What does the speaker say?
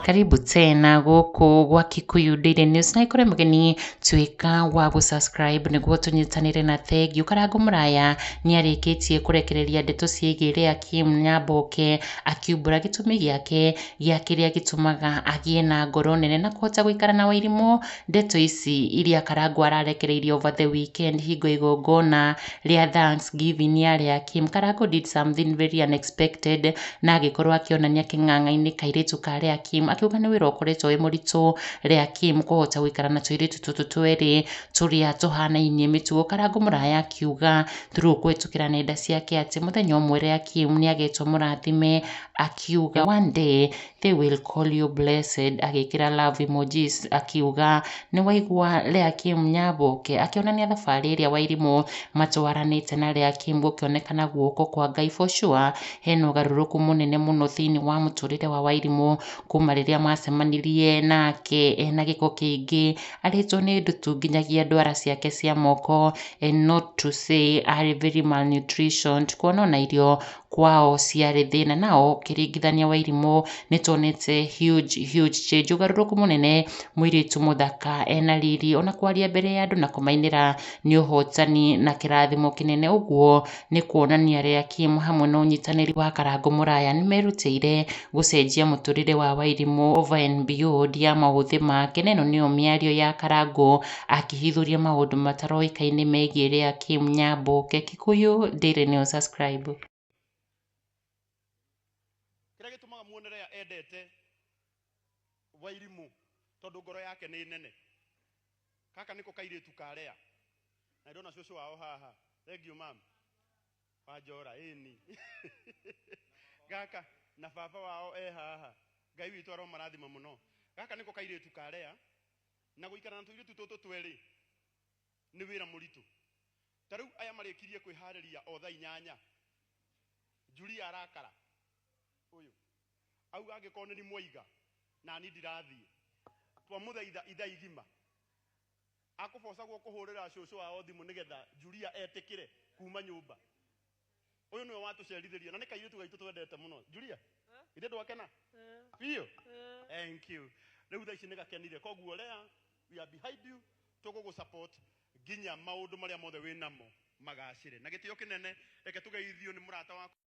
Karibu tena gũkũ gwa Kikuyu Daily News na ikore mũgeni tuĩka wa gũsubscribe nĩguo tũnyitanĩre na thengiũ. Karangũ Mũraya nĩ arĩkĩtie kũrekereria ndeto ciĩgiĩ Leah Kim Nyamboke akiumbũra gĩtũmi gĩake gĩa kĩrĩa gĩtũmaga agĩe na ngoro nene na kũhota gũikara na Wairimũ Ndeto ici iria Karangũ ararekereirie over the weekend hingo ya igongona rĩa thanks giving nĩ arĩa Kim. Karangũ did something very unexpected na agĩkorwo akĩonania kĩng'ang'a-inĩ kairĩtu ka Lea Kim akiuga nĩ wĩra ũkoretwo wĩ mũritũ Lea Kim kũhota gũikara na tũirĩtu tũtũ twerĩ tũrĩa tũhanainie mĩtugo. Karangũ mũraya akiuga through kũhĩtũkĩra nenda ciake atĩ mũthenya ũmwe Lea Kim nĩ agetwo mũrathime akiuga one day they will call you blessed agĩkĩra love emojis akiuga nĩ waigua Lea Kim Nyaboke akĩonania thabarĩ ĩrĩa Wairimũ matwaranĩte na Lea Kim gũkĩonekana guoko kwa Ngai for sure hena ũgarũrũku mũnene mũno thĩinĩ wa mũtũrĩre wa Wairimũ kuma rĩrĩa macemanirie nake ena gĩko kĩingĩ arĩtwo nĩ ndutu nginyagia ndwara ciake cia moko and not to say arĩ very malnutritioned kuona ona irio kwao ciarĩ thĩna nao kĩringithania wa irimũ nĩ tuonete huge huge change ũgarũrũku mũnene mũirĩtu mũthaka ena riri ona kwaria mbere ya andũ na kũmainĩra nĩ ũhotani na kĩrathimo kĩnene ũguo nĩ kuonania rĩa Kim hamwe na ũnyitanĩri wa Karango Mũraya nĩ merutĩire gũcenjia mũtũrĩre wa Wairimũ over and beyond ya maũthĩ make na ĩno nĩyo mĩario ya Karango akĩhithũria maũndũ mataroĩkaine megiĩ rĩa Kim Nyamboke. Kikuyu Daily News subscribe. kĩrĩa gĩtũmaga muone rĩa endete wairimũ tondũ ngoro yake nĩ nene gaka nĩko kairĩtu ka rea na ndona cũcũ wao haha thengiũ mama wanjora ĩni gaka na baba wao e haha ngai witũ aromarathima mũno gaka nĩko kairĩtu ka rea na gũikara na tũirĩtu tũtũ twerĩ nĩ wĩra mũritũ. Ta rĩu aya marĩkirie kwĩharĩria o thaa inyanya, Julia arakara ũyũ auga angĩkorwo nĩni mwaiga nani ndirathiĩ. Twamũthaitha ithaa igima akũbocagwo kũhũrĩra cũcũ wao thimũ nĩgetha Julia etĩkĩre kuma nyũmba. uyu niwe watucerithĩria na nĩ kairĩtu gaitũ twendete mũno julia ithe ndwakena biũ thank you rĩu thaa ici nĩ gakenire koguo lea we are behind you tũgũgũ support nginya maũndũ marĩa mothe wĩ namo magacĩre na gĩtĩo kĩnene reke tũgeithio nĩ mũrata wakwa